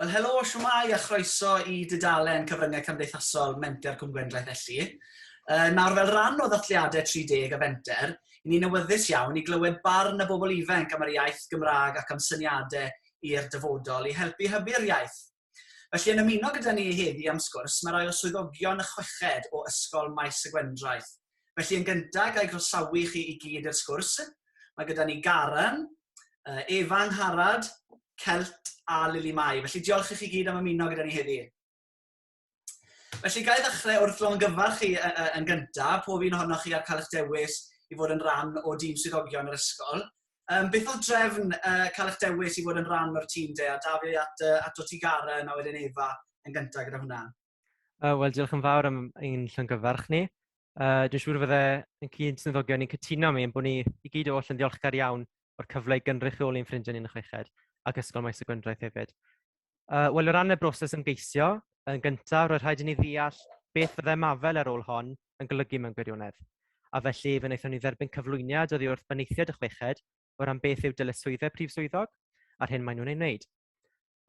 Wel, helo, siwmai a chroeso i dudalen Cyfryngau Cymdeithasol Menter Cwm Gwendraeth Elli. Uh, nawr, fel rhan o ddathliadau 30 a Fenter, i ni'n awyddus iawn i glywed barn y bobl ifanc am yr iaith Gymraeg ac am syniadau i'r dyfodol i helpu hybu'r iaith Felly yn ymuno gyda ni heddi am sgwrs mae rai o swyddogion y chweched o Ysgol Maes y Gwendraeth. Felly yn gynta ga'i groesawu chi i gyd i'r sgwrs. Mae gyda ni Garan, Efa Angharad, Celt a Lili Mai. Felly diolch i chi gyd am ymuno gyda ni heddi. Felly, gael ddechrau wrth longyfarch chi yn gyntaf, pob un ohonoch chi ar cael eich dewis i fod yn rhan o dîm swyddogion yr ysgol. Um, beth oedd drefn uh, cael eich dewis i fod yn rhan o'r tîm de, a da fi at, uh, at o ti Garen a wedyn Efa yn gyntaf gyda hwnna? Uh, Wel, diolch yn fawr am ein llongyfarch ni. Uh, dwi'n siŵr fydde yn cyd swyddogion ni'n cytuno mi yn bod ni i gyd oll yn ddiolchgar iawn o'r cyfle i gynrychioli'n ffrindiau ni'n y chweched ac Ysgol Maes y Gwendraeth hefyd. Uh, Wel, o ran y broses ymgeisio, yn gyntaf, roedd rhaid i ni ddeall beth fyddai mafel ar ôl hon yn golygu mewn gwirionedd. A felly, fe wnaethon ni dderbyn cyflwyniad oddi wrth benaethiaid y chweched o ran beth yw dyletswyddau prif swyddog a'r hyn maen nhw'n ei wneud.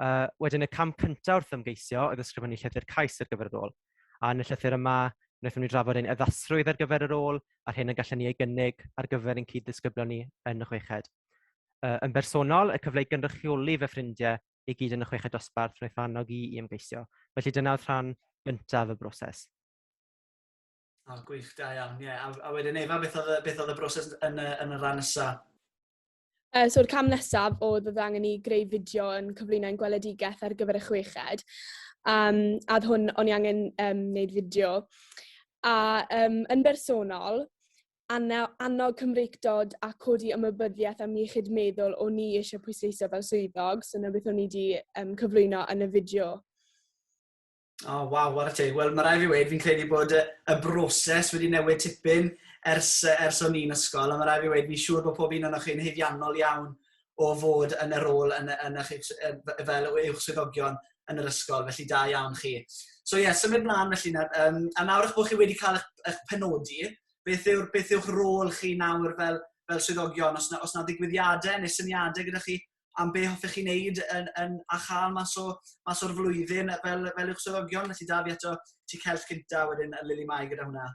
Uh, wedyn, y cam cyntaf wrth ymgeisio oedd ysgrifennu llythyr cais ar gyfer y rôl. A yn y llythyr yma, wnaethon ni drafod ein addasrwydd ar gyfer y rôl a'r hyn y gallen ni ei gynnig ar gyfer ein cyd-ddisgyblion ni yn y chweched. Uh, yn bersonol, y cyfle i gynrychioli fy ffrindiau i gyd yn y chweched dosbarth wnaeth annog i i ymgeisio. Felly dyna oedd rhan gyntaf y broses. O, oh, gwych, da iawn. Yeah. A, a wedyn Efa, beth oedd, beth oedd y broses yn, yn y rhan nesaf? Uh, So'r cam nesaf oedd oedd angen i greu fideo yn cyflwyno'n gweledigaeth ar gyfer y chweched. Um, a hwn, o'n i angen um, wneud fideo. A um, yn bersonol, annog Cymreictod a codi ymwybyddiaeth am iechyd meddwl o'n ni eisiau pwysleisio fel swyddog, so na beth o'n i wedi um, cyflwyno yn y fideo. O, oh, waw, what a teg. Wel, mae rai fi wedi, fi'n credu bod y, y broses wedi newid tipyn ers, ers o'n ni'n ysgol, a mae rai fi wedi, fi'n siŵr bod pob un o'n chi'n heifiannol iawn o fod yn y rôl yn, yn, yn, fel uwch swyddogion yn yr ysgol, felly da iawn chi. So ie, yeah, symud mlaen felly nawr. Um, a nawr eich bod chi wedi cael eich, eich penodi, beth, yw'r, beth yw'ch rôl chi nawr fel, fel swyddogion? Os na, os na ddigwyddiadau neu syniadau gyda chi am be hoffech chi wneud yn, yn, a chael mas, o, mas o'r flwyddyn fel, fel yw'ch swyddogion, felly da fi eto ti cellt cynta wedyn Lili Mai gyda hwnna.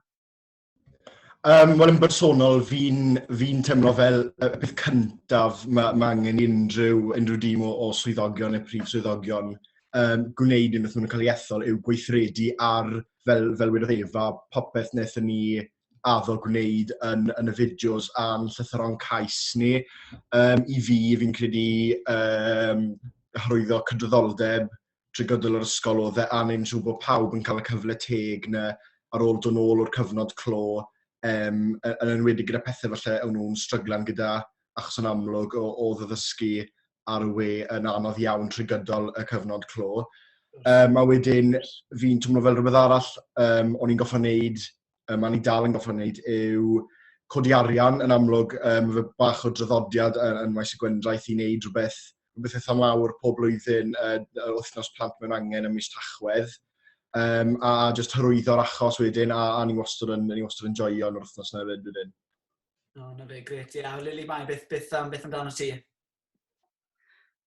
Um, Wel, yn bersonol, fi'n fi teimlo fel y peth cyntaf mae ma angen unrhyw, unrhyw dîm o, o swyddogion neu prif swyddogion um, gwneud unwaith maen cael ei ethol yw gweithredu ar, fel, fel wedodd Efa, popeth wnaethon ni addo gwneud yn, yn y fideos a'n llythyron cais ni. Um, I fi, fi'n credu um, hyrwyddo cydraddoldeb, trwy gydol yr ysgol oedd e angen siŵr bod pawb yn cael y cyfle teg na ar ôl dod nôl o'r cyfnod clo, um, yn enwedig gyda pethau falle o'n nhw'n stryglan gyda achos yn amlwg o, o ddyddysgu ar y we yn anodd iawn trwy gydol y cyfnod clo. Um, a wedyn fi'n twmlo fel rhywbeth arall um, o'n i'n goffa wneud um, a ni dal yn goffa wneud, yw codi arian yn amlwg, um, fe bach o draddodiad yn, yn maes y gwendraeth i wneud rhywbeth, rhywbeth eitha mawr pob blwyddyn uh, wythnos plant mewn angen ym mis Tachwedd, um, a just hyrwyddo'r achos wedyn, a, a ni wastad yn, ni wastad yn joio yn yr wythnos na fyd wedyn. O, na fe, gret, ie. Yeah. Lili, mae beth, beth, um, beth amdano ti?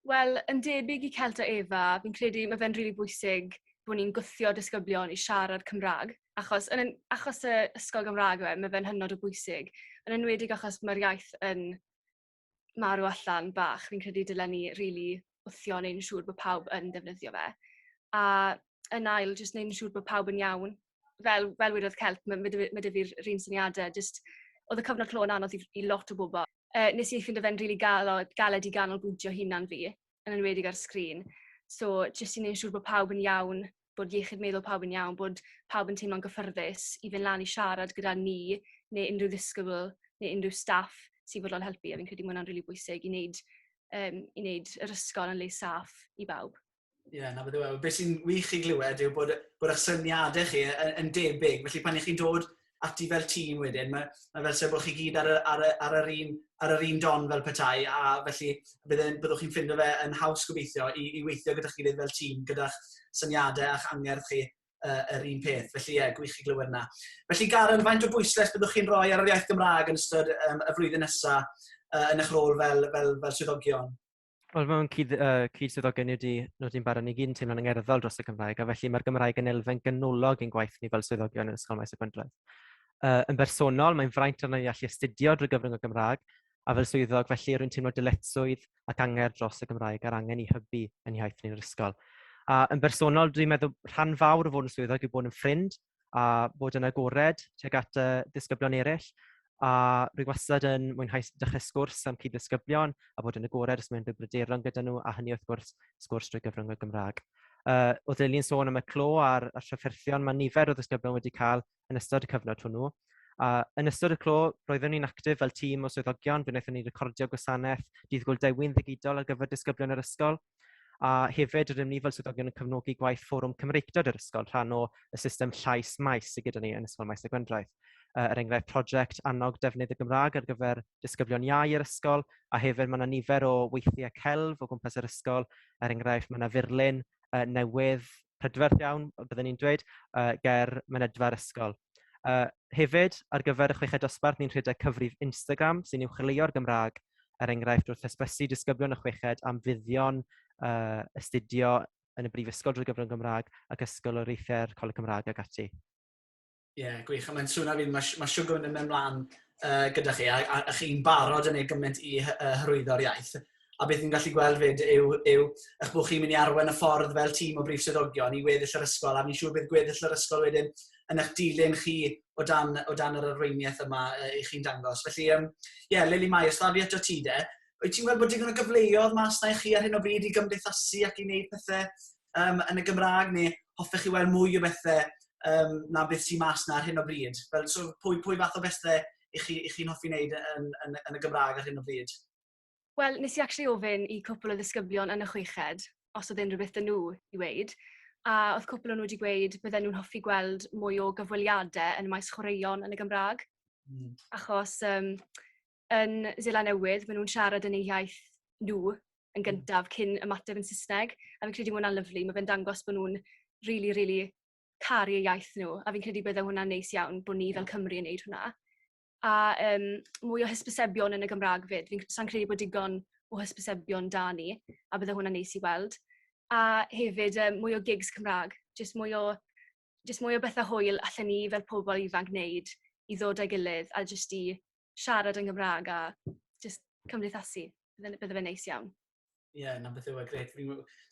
Wel, yn debyg i Celt a Eva, fi'n credu mae fe'n rili bwysig bod ni'n gwthio disgyblion i siarad Cymraeg, achos yn achos y ysgol Gymraeg yw e, mae fe'n hynod o bwysig, yn enwedig achos mae'r iaith yn marw allan bach, fi'n credu dylen ni rili wthio neu'n siŵr bod pawb yn defnyddio fe. A yn ail, jyst neu'n siŵr bod pawb yn iawn, fel, fel wedodd Celp, mae ma dy, ma dy fi'r rhywun syniadau, jyst oedd y cyfnod clo yn anodd i, i lot o bobl. Uh, nes i ffind o fe'n rili really galed i ganolbwyntio hunan fi, yn enwedig ar sgrin. So, jyst i wneud siŵr bod pawb yn iawn, bod iechyd meddwl pawb yn iawn, bod pawb yn teimlo'n gyffyrddus i fynd lan i siarad gyda ni, neu unrhyw ddisgybl, neu unrhyw staff sy'n fodlon helpu. A fi'n credu bod hwnna'n rili really bwysig i wneud, um, i wneud yr ysgol yn le saff i bawb. Ie, yeah, na beth yw e. Be sy'n wych i glywed yw bod, bod eich syniadau chi yn, yn debyg. Felly pan ych chi'n dod ati fel tîm wedyn, mae, mae fel sef bod chi gyd ar, y, ar, y, ar, yr un, ar yr un don fel petai, a felly byddwn, byddwch chi'n ffindo fe yn haws gobeithio i, i weithio gyda chi fel tîm, gyda'ch syniadau a'ch angerdd chi uh, yr un peth. Felly, ie, yeah, gwych i glywed yna. Felly, Garen, faint o bwyslais byddwch chi'n rhoi ar yr iaith Gymraeg yn ystod um, y flwyddyn nesaf uh, yn eich rôl fel, fel, fel swyddogion? Wel, mae'n cyd, uh, cyd swyddog gen i wedi nodi'n barod ni gyd yn teimlo'n angerddol dros y Gymraeg, a felly mae'r Gymraeg yn elfen ganolog ein gwaith ni fel swyddogion yn Ysgol Maes y Gwyndroedd. Uh, yn bersonol, mae'n fraint arno i allu astudio drwy gyfrwng y Gymraeg, a fel swyddog, felly rwy'n teimlo dyletswydd ac angerdd dros y Gymraeg a'r angen i hybu yn iaith ni'n yr ysgol. A yn bersonol, dwi'n meddwl rhan fawr o fod yn swyddog yw bod yn ffrind a bod yn agored tuag at y disgyblion eraill. A rwy wastad yn mwynhau dechrau sgwrs am cyd-ddisgyblion a bod yn agored os mae'n bryderon gyda nhw, a hynny wrth gwrs, sgwrs drwy gyfrwng y Gymraeg. Uh, oedd Lili'n sôn am y clo a'r, a'r trafferthion mae nifer o ddisgyblion wedi cael yn ystod y cyfnod hwnnw. A yn ystod y clo, roeddwn ni'n actif fel tîm o swyddogion, fe wnaethon ni recordio gwasanaeth dydd Gwyl Dewin ddigidol ar gyfer disgyblion yr ysgol, A hefyd rydym ni fel swyddogion yn cefnogi gwaith Fforwm Cymreictod yr ysgol, rhan o y system llais maes sydd gyda ni yn Ysgol Maes y Gwendraeth. Yy er enghraifft project annog defnydd y Gymraeg ar gyfer disgyblion iau yr ysgol a hefyd mae yna nifer o weithiau celf o gwmpas yr ysgol, er enghraifft mae yna furlun yy newydd prydferth iawn, bydden i'n dweud, yy ger mynedfa'r ysgol. Yy hefyd, ar gyfer y chweched dosbarth, ni'n rhedeg cyfrif Instagram sy'n uwchleuo'r Gymraeg, er enghraifft, wrth hysbysu disgyblion y chweched am fuddion yy astudio yn y brifysgol drwy gyfrwng Gymraeg ac ysgoloriaethau'r Coleg Cymraeg ac ati. Ie, yeah, gwych. A mae'n sŵn ar fi, mae, mae Siwgwn yn mynd mlaen uh, gyda chi, a, a, a chi'n barod yn ei gymaint i uh, hyrwyddo'r iaith. A beth ni'n gallu gweld fyd yw, yw eich bod chi'n mynd i arwen y ffordd fel tîm o brif swyddogion i weddill yr ysgol, a fi'n siŵr bydd gweddill yr ysgol wedyn yn eich dilyn chi o dan, o dan yr arweiniaeth yma uh, i chi'n dangos. Felly, ie, um, yeah, Lili Mai, os da fi eto ti de, wyt ti'n gweld bod digon o gyfleoedd mas na i chi ar hyn o bryd i gymdeithasu ac i wneud pethau um, yn y Gymraeg neu hoffech chi weld mwy o bethau um, na beth sy'n mas na ar hyn o bryd? Fel, so, pwy, pwy fath o bethau i chi, i chi'n hoffi wneud yn, yn, yn y Gymraeg ar hyn o bryd? Wel, nes i actually ofyn i cwpl o ddisgyblion yn y chweched os oedd unrhyw beth yn nhw i weid, a oedd cwpl o'n nhw wedi gweud bydden nhw'n hoffi gweld mwy o gyfweliadau yn y maes chwaraeon yn y Gymraeg, mm. achos um, yn Zela Newydd, maen nhw'n siarad yn eu iaith nhw yn hmm. gyntaf cyn ymateb yn Saesneg. A fi'n credu hwnna'n lyflu. Mae fe'n dangos bod nhw'n really, really caru y iaith nhw. A fi'n credu bydde hwnna'n neis iawn bod ni fel Cymru yn neud hwnna. A um, mwy o hysbysebion yn y Gymraeg fyd. Fi'n sa'n credu bod digon o hysbysebion da ni. A bydde hwnna'n neis i weld. A hefyd um, mwy o gigs Cymraeg. Jyst mwy o jyst mwy o bethau hwyl allan ni fel pobl ifanc wneud i ddod â'i gilydd a jyst i siarad yn Gymraeg a jyst cymdeithasu. Bydde, bydde fe'n neis iawn. Ie, yeah, na beth yw e, gret.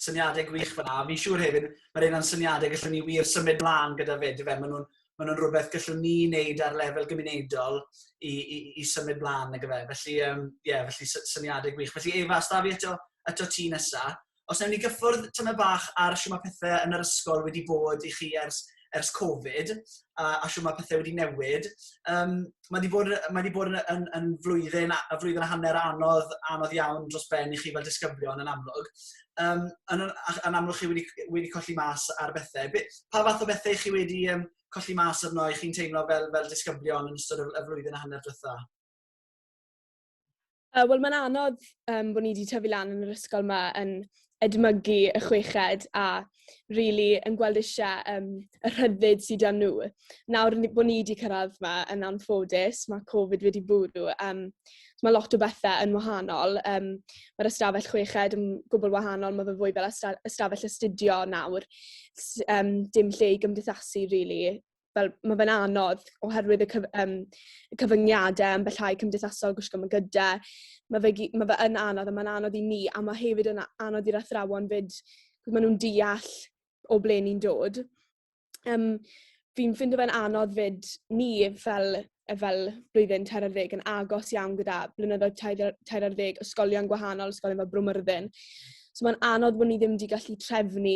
Syniadau gwych fanna. Fi'n siŵr hefyd, mae rhaid na'n syniadau gallwn ni wir symud mlaen gyda fe, fe. Maen nhw'n ma nhw rhywbeth gallwn ni wneud ar lefel gymunedol i, i, i symud mlaen, nag fe. Felly, ie, um, yeah, felly syniadau gwych. Felly, Efa, os da fi eto, eto ti nesa, Os ewn ni gyffwrdd tamaid bach ar shwt mae pethe yn yr ysgol wedi bod i chi ers ers Covid a a shwt mae pethe wedi newid. Yym mae 'di bod mae 'di bod yn yn yn flwyddyn a a flwyddyn a hanner anodd anodd iawn dros ben i chi fel disgyblion yn amlwg. Yym yn yn a- yn amlwg chi wedi c- wedi colli mas ar bethe. Be... pa fath o bethe 'y chi wedi yym colli mas arno 'y chi'n teimlo fel fel disgyblion yn ystod y y flwyddyn a hanner diwetha'? Uh, Wel, mae'n anodd um, bod ni wedi tyfu lan yn yr ysgol yma yn edmygu y chweched a rili really yn gweld eisiau um, y rhyddid sydd â nhw. Nawr bod ni wedi cyrraedd yma yn anffodus, mae Covid wedi bwrw. Um, mae lot o bethau yn wahanol. Um, Mae'r ystafell chweched yn gwbl wahanol, mae fe fwy fel ystafell astudio nawr. Um, dim lle i gymdeithasu, really. fel ma' fe'n anodd oherwydd y cyf- yym y cyfyngiade ambellhau cymdeithasol gwisgo ma' gyda ma' fe gy- ma' fe yn anodd a ma'n anodd i ni a ma' hefyd yn a- anodd i'r athrawon 'fyd ma' nw'n deall o ble ni'n dod. Yym fi'n ffindo fe'n anodd 'fyd ni fel yy fel blwyddyn tair ar ddeg yn agos iawn gyda blynyddoedd tair ar tair ar ddeg ysgolion gwahanol ysgolion fel Bro Myrddin. So ma'n anodd bo' ni ddim 'di gallu trefnu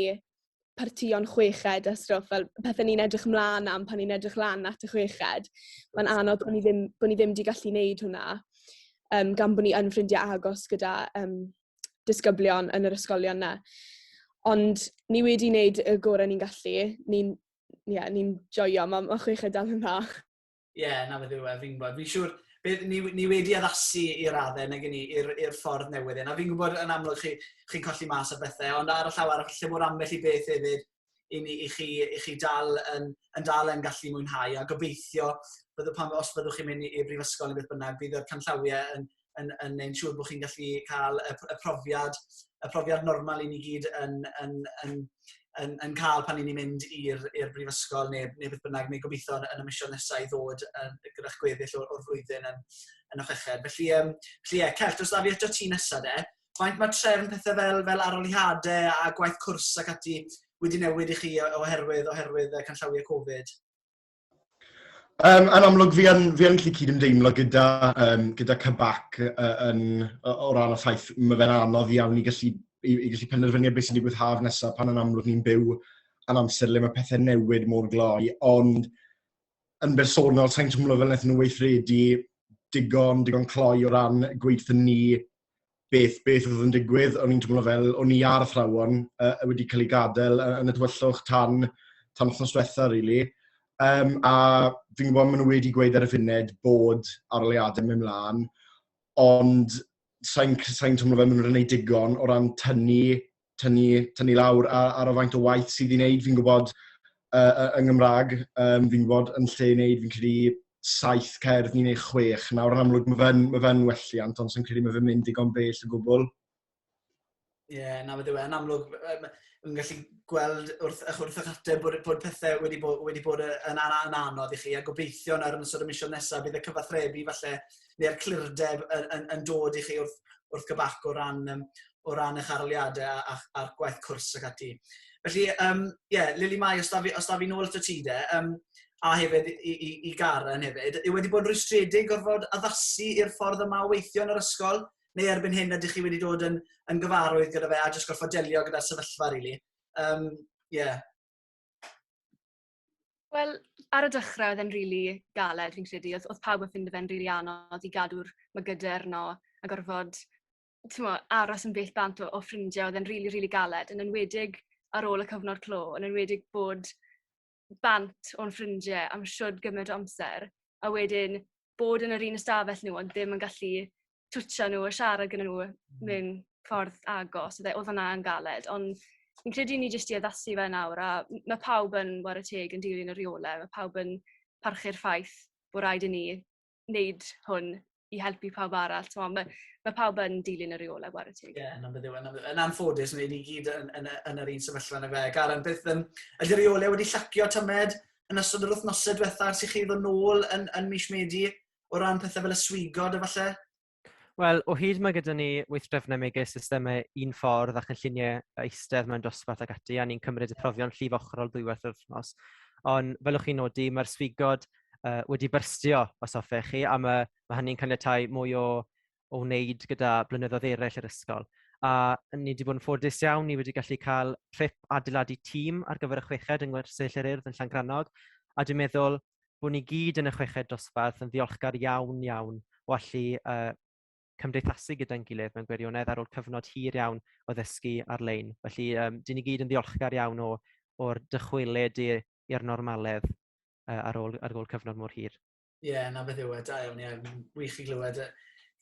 partïon chweched a stwff fel pethe ni'n edrych mlan am pan ni'n edrych lan at y chweched. Mae'n anodd bo' ni ddim bo' ni ddim 'di gallu neud hwnna yym gan bo' ni yn ffrindie agos gyda yym disgyblion yn yr ysgolion 'na. Ond ni wedi neud y gore ni'n gallu. Ni'n ie ni'n joio ma' ma' chweched dal yn dda. Ie, yeah, na beth yw e, fi'n gwybod. Fi'n siŵr, beth, ni, ni wedi addasu i raddau nag ni, i'r ffordd newydd hyn. A fi'n gwybod yn amlwg chi, chi'n colli mas o bethau, ond ar y llaw arall, lle bod ambell i beth hefyd i, ni, i, chi, i chi dal yn, yn dal yn gallu mwynhau. A gobeithio, bydde, pan, os byddwch chi'n mynd i'r brifysgol neu beth bynnag, bydd y canllawiau yn, yn, yn ein siŵr bod chi'n gallu cael y, y profiad y profiad normal i ni gyd yn, yn, yn, yn, yn cael pan i ni'n mynd i'r brifysgol neu, neu beth bynnag, neu gobeithio yn y mision nesau i ddod yn, gyda'ch gweddill o'r, or flwyddyn yn, yn y chweched. Felly, um, felly yeah, Celt, os da fi eto ti nesau de, faint mae trefn pethau fel, fel aroliadau a gwaith cwrs ac ati wedi newid i chi oherwydd, oherwydd canllawiau Covid? Um, yn amlwg, fi yn, fi yn gallu cyd-ymdeimlo gyda, um, gyda Cybac uh, yn, o ran y ffaith, mae fe'n anodd iawn i gallu, i, i gallu penderfynu beth sy'n digwydd haf nesaf pan yn amlwg ni'n byw yn amser le mae pethau newid mor gloi, ond yn bersonol, sa'n twmlo fel wnaethon nhw weithredu digon, digon cloi o ran gweithio ni beth, beth oedd yn digwydd, o'n i'n teimlo fel o'n i ar athrawon uh, wedi cael ei gadael yn y dywyllwch tan, tan wythnos diwetha, really. Um, a fi'n gwybod maen nhw wedi gweud ar y funud bod aroliadau mewn mlaen, ond sa'n sain teimlo fel maen nhw'n gwneud digon o ran tynnu tynnu, tynnu lawr ar, ar y faint o waith sydd i wneud. Fi'n gwybod uh, yng Nghymraeg, um, fi'n gwybod yn lle i wneud, fi'n credu saith cerdd ni'n ei chwech. Nawr yn amlwg, mae fe'n ma fe welliant, ond sy'n credu mae fe'n mynd digon bell o gwbl. Ie, yeah, na fe yn amlwg, yn gallu gweld wrth, eich wrth eich ateb bod, bod pethau wedi bod, wedi bod yn, an, yn anodd i chi, a gobeithio nawr yn ystod y misiodd nesaf bydd y cyfathrebu falle neu'r clirdeb yn, yn, yn dod i chi wrth, wrth gybarc o ran, um, o ran eich arliadau a'r, ar gwaith cwrs ac ati. Felly, ie, um, yeah, Lili Mai, os da fi, os da fi nôl at y ti de, um, a hefyd i, i, i Garen hefyd, yw wedi bod yn rwystredig gorfod addasu i'r ffordd yma o weithio yn yr ysgol, neu erbyn hyn ydych chi wedi dod yn, yn gyfarwydd gyda fe a jyst gorfod delio gyda'r sefyllfa, rili. Really. Um, yeah. Wel, ar y dechrau oedd e'n rili galed fi'n credu, oedd oedd pawb yn ffindo fe'n rili anodd i gadw'r mygydau arno a gorfod t'mo' aros yn bell bant o o ffrindie oedd e'n rili rili galed yn enwedig ar ôl y cyfnod clo yn enwedig bod bant o'n ffrindie am shwd gyment o amser a wedyn bod yn yr un ystafell nhw ond ddim yn gallu twtio nhw a siarad gyda nhw mewn ffordd agos. Oedd e- oedd hwnna yn galed, ond fi'n credu ni jyst i addasu fe nawr a m- ma' pawb yn war y teg yn dilyn y rheolau, ma' pawb yn parchu'r ffaith bod rhaid i ni wneud hwn i helpu pawb arall. T'mo' ma' ma' pawb yn dilyn y rheolau war y teg. Ie, yn amlwg yw e. Yn amlwg- yn anffodus, ni ni gyd yn yn y yn yr un sefyllfa na fe. Karen, beth yym ydi'r rheolau wedi llacio tymed? yn ystod yr wythnosau diwetha ers i chi ddod nôl yn, yn mis Medi o ran pethau fel y swigod a falle? Wel, o hyd mae gyda ni weithdrefnau megis systemau un ffordd a chynlluniau eistedd mewn dosbarth ac ati, a ni'n cymryd y profion llif ochrol ddwywaith yr wythnos. Ond fel o'ch chi'n nodi, mae'r swigod uh, wedi byrstio, os hoffech chi, a mae, mae hynny'n caniatau mwy o o wneud gyda blynyddoedd eraill yr ysgol. A ni wedi bod yn ffodus iawn, ni wedi gallu cael trip adeiladu tîm ar gyfer y chweched yng Ngwersyll yr Urdd yn Llangrannog. A dwi'n meddwl bod ni gyd yn y chweched dosbarth yn ddiolchgar iawn, iawn o allu uh, cymdeithasu gyda'n gilydd mewn gwirionedd ar ôl cyfnod hir iawn o ddysgu ar-lein. Felly, um, dyn ni gyd yn ddiolchgar iawn o, o'r dychwelyd i'r normaledd uh, ar, ôl, ar ôl cyfnod mor hir. Ie, 'na beth yw e. Da iawn, ie. Mae'n wych i glywed yy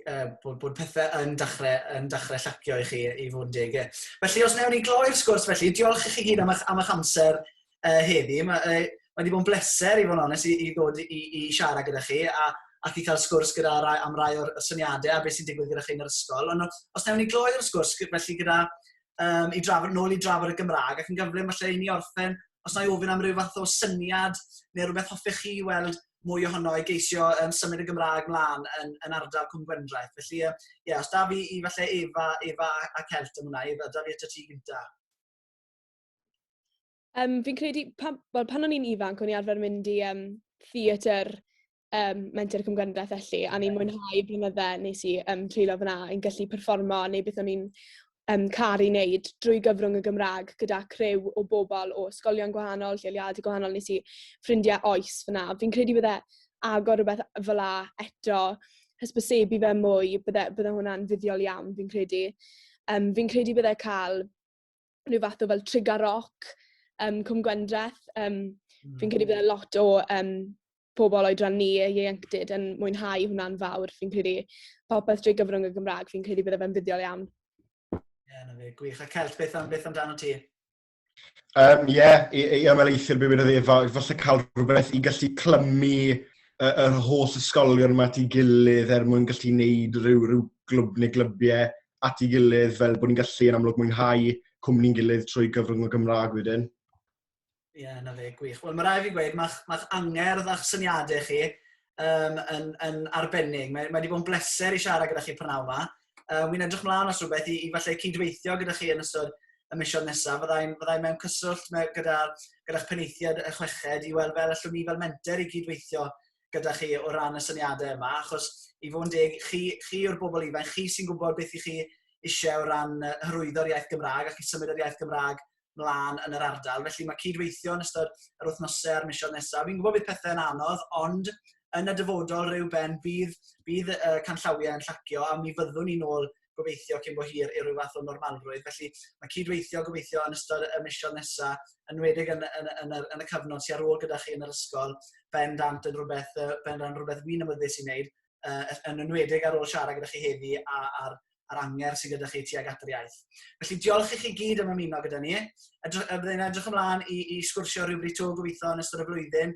yy bod bod pethe yn dachre yn dachre llacio i chi i fod yn deg ie. Felly os newn ni gloi'r sgwrs felly, diolch i chi gyd am eich am eich amser uh, heddi. Mae uh, ma wedi bod yn bleser i fod yn onest i, i ddod i, i siarad gyda chi a ac i cael sgwrs gyda rai, am rai o'r syniadau a beth sy'n digwydd gyda chi yn yr ysgol. Ond os newn ni gloi'r sgwrs felly gyda um, i drafod, nôl i drafod y Gymraeg, ac yn gyflym falle i ni orffen, os na i ofyn am rhyw fath o syniad neu rhywbeth hoffech chi weld mwy ohono i geisio um, symud y Gymraeg mlaen yn, yn ardal Cwm Gwendraeth. Felly, ie, um, yeah, os da fi i falle Efa, Efa a, a Celt yn hwnna, Efa, da fi eto ti gynta. Um, fi'n credu, pan, well, pan o'n i'n ifanc, o'n i arfer mynd i um, theatr um, menter cymgyndaeth felly, a ni'n mwynhau blynydde nes i um, treulio fyna, yn gallu performo neu beth o'n i'n um, caru wneud drwy gyfrwng y Gymraeg gyda crew o bobl o ysgolion gwahanol, lleoliadau gwahanol, nes i ffrindiau oes fyna. Fi'n credu bydde agor rhywbeth fel la eto, hysbysebu fe mwy, bydde, bydde hwnna'n fuddiol iawn, fi'n credu. Um, fi'n credu bydde cael rhyw fath o fel trigger rock um, Cwm Gwendreth. Um, mm. Fi'n credu bod lot o um, pobl oedran ni, ieuenctid, yn mwynhau hwnna'n fawr. Fi'n credu popeth drwy gyfrwng y Gymraeg, fi'n credu bod fe'n fuddiol iawn. Ie, yeah, na fe, gwych. A Celt, beth, am, beth amdano ti? Um, ie, yeah, i, i ymwneithio'r bywyd o ddefa, falle cael rhywbeth i gallu clymu yr holl ysgolion yma ti gilydd er mwyn gallu wneud rhyw, rhyw glwb neu glybiau at ei gilydd fel bod ni'n gallu yn amlwg mwynhau cwmni'n gilydd trwy gyfrwng y Gymraeg wedyn. Ie, yeah, na fe, gwych. Wel, mae rai fi gweud, mae'ch ma angerdd a'ch syniadau chi um, yn, yn arbennig. Mae, mae wedi bod yn bleser i siarad gyda chi prynawn yma. Um, Wy'n edrych mlaen os rhywbeth i, i falle cydweithio gyda chi yn ystod y misiodd nesaf. Fyddai'n fyddai mewn cyswllt me, gyda, gyda'ch peneithiad y chweched i weld fel allwn ni fel menter i gydweithio gyda chi o ran y syniadau yma, achos i fod yn deg, chi, chi yw'r bobl ifanc, chi sy'n gwybod beth i chi eisiau o ran hyrwyddo'r iaith Gymraeg ac i symud yr iaith Gymraeg mlaen yn yr ardal. Felly mae cydweithio yn ystod yr wythnosau a'r misoedd nesaf. Fi'n gwybod bydd pethau yn anodd, ond yn y dyfodol rhyw ben bydd, bydd y canllawiau yn llacio a mi fyddwn ni'n ôl gobeithio cyn bo hir i ryw fath o normalrwydd. Felly mae cydweithio gobeithio yn ystod y misoedd nesaf, yn wedig yn, yn, yn, yr, yn y cyfnod sy'n ar ôl gyda chi yn yr ysgol, ben dant yn rhywbeth, uh, ben dant rhywbeth fi'n ymwyddes i wneud, uh, yn enwedig ar ôl siarad gyda chi heddi a, a'r, a'r anger sydd gyda chi tuag at yr iaith. Felly diolch i chi gyd am ymuno gyda ni. Edrych, byddai'n edrych ymlaen i, i sgwrsio rhywbryd to gobeithio yn ystod y flwyddyn